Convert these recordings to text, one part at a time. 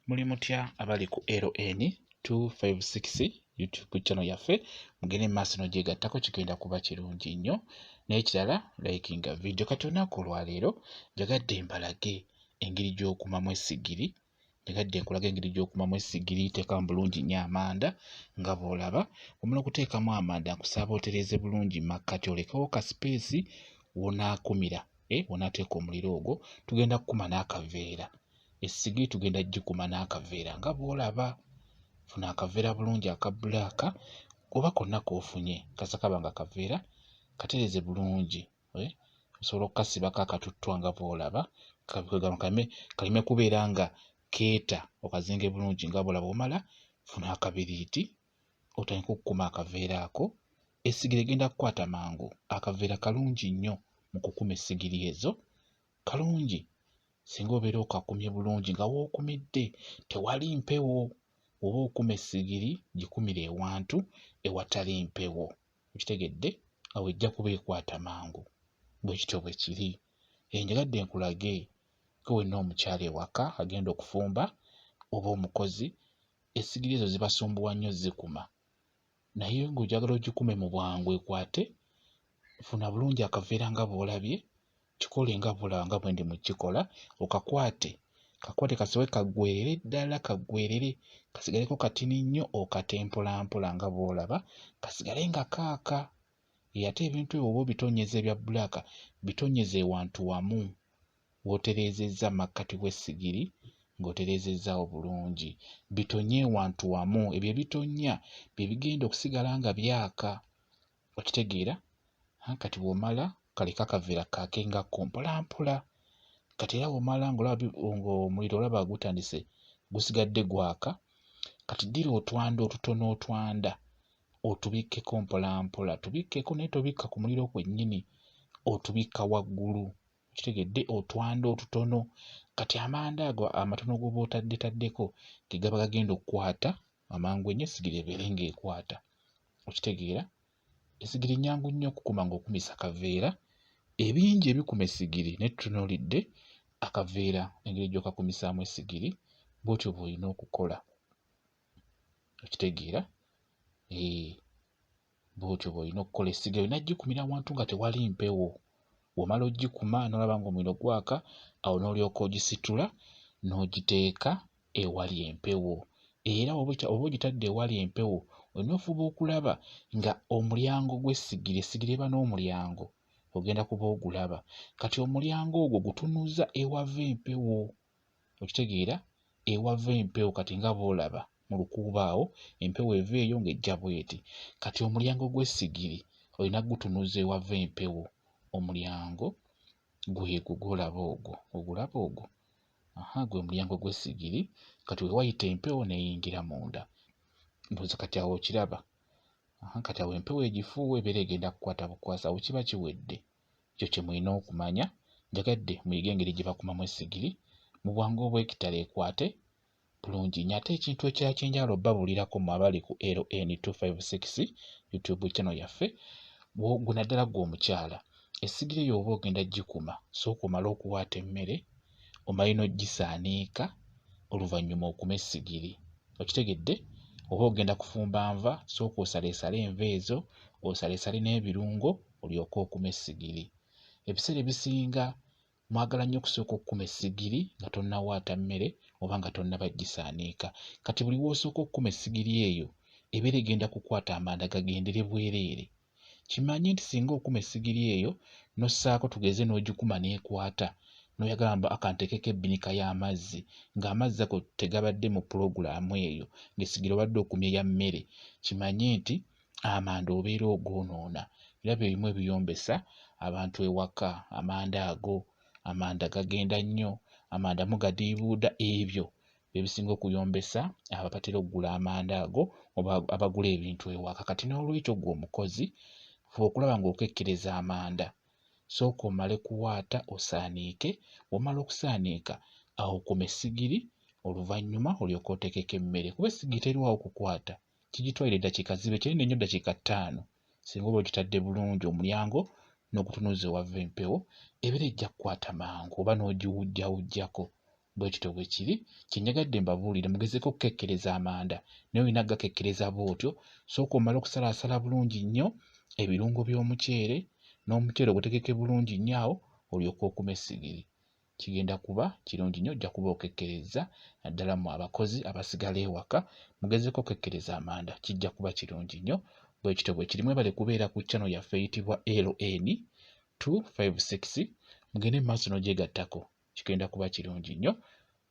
muli mutya abali ku ln 256 youtube channel yaffe mugende mumaaso nogyegattako kigenda kuba kirungi nnyo n'ekirala likinga vidiyo kati olunaku olwaleero njagadde mbalage engeri gy'okumamu essigiri njagadde nkulaga engeri gy'okumamu essigiri teeka mu bulungi nnyo amanda nga bw'olaba omala okuteekamu amanda nkusaba otereeze bulungi makkati olekewo ka sipeesi wonaakumira eh, bw'onaateeka omuliro ogwo tugenda kukuma n'akaveera essigiri tugenda gikuma n'akaveera nga bw'olaba funa akaveera bulungi aka bbulaaka oba konna k'ofunye kasa kaba nga kaveera katereeze bulungi eh, osobola okukasibako akatuttwa nga bw'olaba kaleme kubeera nga keeta okazinge bulungi nga bw'olaba omala funa akabiriiti otandike okukuma akaveera ako essigiri egenda kukwata mangu akaveera kalungi nnyo mu kukuma essigiri ezo kalungi singa obeera okakumye bulungi nga wookumidde tewali mpewo oba okuma essigiri gikumire ewantu ewatali mpewo okitegedde awo ejja kuba ekwata mangu bwe kityo bwe kiri enjagadde nkulage ke wenna omukyala ewaka agenda okufumba oba omukozi esigiri ezo zibasumbuwa nnyo zikuma naye ng'ojagala ogikume mu bwangu ekwate funa bulungi akaveera nga bw'olabye kikole nga bula nga bwe ndi mu kikola okakwate kakwate kasobe kaggwerere ddala kaggwerere kasigaleko katini nnyo okate mpolampola nga bw'olaba kasigale nga kaaka Eyate ebintu ebyo oba obitonyeza ebya black bitonyeze wantu wamu wotereezezza makkati w'essigiri ng'otereezezzaawo bulungi. Bitonye wantu wamu. Ebyo ebitonnya bye bigenda okusigala nga byaka. Okitegeera? Kati bw'omala kaleka akaveera kaakengako mpolampola. Kati era bw'omala ng'olaba ng'omuliro olaba gutandise gusigadde gwaka, kati ddira otwanda otutono otwanda otubikkeko mpolampola tubikkeko naye tobikka ku muliro kwennyini otubikka waggulu kitegedde otwanda otutono kati amanda ago amatono goba otaddetaddeko gegaba gagenda okukwata amangu enyo esigiri ebeere ngaekwata okitegeera esigiri nyangu nnyo okukuma ngaokumisa kaveera ebingi ebikuma esigiri naye tutunulidde akaveera engeri gyokakumisaamu esigiri bwotyo bwolina okukola okitegeera eh, bwotyo bwolina okukola essiga yona gikumira awantu nga tewali mpewo womala ogikuma nolaba nga omuliro gwaka awo nolyoka ogisitula n'ogiteeka ewali empewo era oba ogitadde ewali empewo olina ofuba okulaba nga omulyango gw'essigiri essigiri eba n'omulyango ogenda kuba ogulaba kati omulyango ogwo gutunuza ewava empewo okitegeera ewava empewo kati nga boolaba mu lukuubo awo empewo eva eyo ng'ejja bweti kati omulyango gw'essigiri olina gutunuza ewava empewo omulyango gwegwo gwolaba ogwo ogulaba ogwo aha gwe mulyango gw'essigiri kati wewayita empewo neyingira munda mbuuza kati awo okiraba aha kati awo empewo egifuuwa ebeera egenda kukwata bukwasa awo kiba kiwedde ekyo kye mulina okumanya njagadde muyige engeri gye bakumamu essigiri mu bwangu obw'ekitalo ekwate bulungi nnyo ate ekintu ekirala kye njagala obabuulirako mu abali ku ln 256 youtube channel yaffe gwe naddala gwe omukyala essigiri eyo oba ogenda gikuma sooka omale okuwaata emmere omale n'ogisaaniika oluvannyuma okume essigiri okitegedde oba ogenda kufumba nva sooka osaleesale enva ezo osaleesale n'ebirungo olyoke okume essigiri. Ebiseera ebisinga mwagala nnyo okusooka okukuma essigiri nga tonnawaata mmere oba nga tonnaba gisaanika. Kati buli w'osooka okukuma essigiri eyo ebeera egenda kukwata amanda gagendere bwereere. Kimanye nti singa okuma essigiri eyo n'ossaako tugeze n'ogikuma n'ekwata n'oyagala mbu akanteekeko ebbinika y'amazzi ng'amazzi ago tegabadde mu pulogulaamu eyo ng'essigiri obadde okumye ya mmere kimanye nti amanda obeera ogoonoona era bye bimu ebiyombesa abantu ewaka amanda ago amanda gagenda nnyo amanda mugadiibuuda ebyo bye bisinga okuyombesa abo abatera okugula amanda ago oba abagula ebintu ewaka kati n'olwekyo gwe omukozi fe okulaba ng'okekkereza amanda sooka omale kuwaata osaaniike womala okusaaniika awo kume sigiri oluvannyuma olyoka oteekeko emmere kuba essigiri teriwawo kukwata kigitwalira eddakiika zibe kinene nnyo ddakiika ttaano singa oba okitadde bulungi omulyango n'ogutunuza ewava empewo ebeera ejja kukwata mangu oba n'ogiwujjawujjako bwe kityo bwe kiri kye njagadde mbabuulire mugezeeko okukekkereza amanda naye olina kugakekkereza bw'otyo sooka omale okusalaasala bulungi nnyo ebirungo by'omuceere n'omuceere ogutegeke bulungi nnyo awo olyoke okume essigiri kigenda kuba kirungi nnyo ojja kuba okekkerezza naddala mu abakozi abasigala ewaka mugezeko okekkereza amanda kijja kuba kirungi nnyo bwe kityo bwe kiri mwebale kubeera ku chano yaffe eyitibwa ln 256 mugende mu maaso n'ogyegattako kigenda kuba kirungi nnyo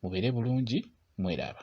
mubeere bulungi mweraba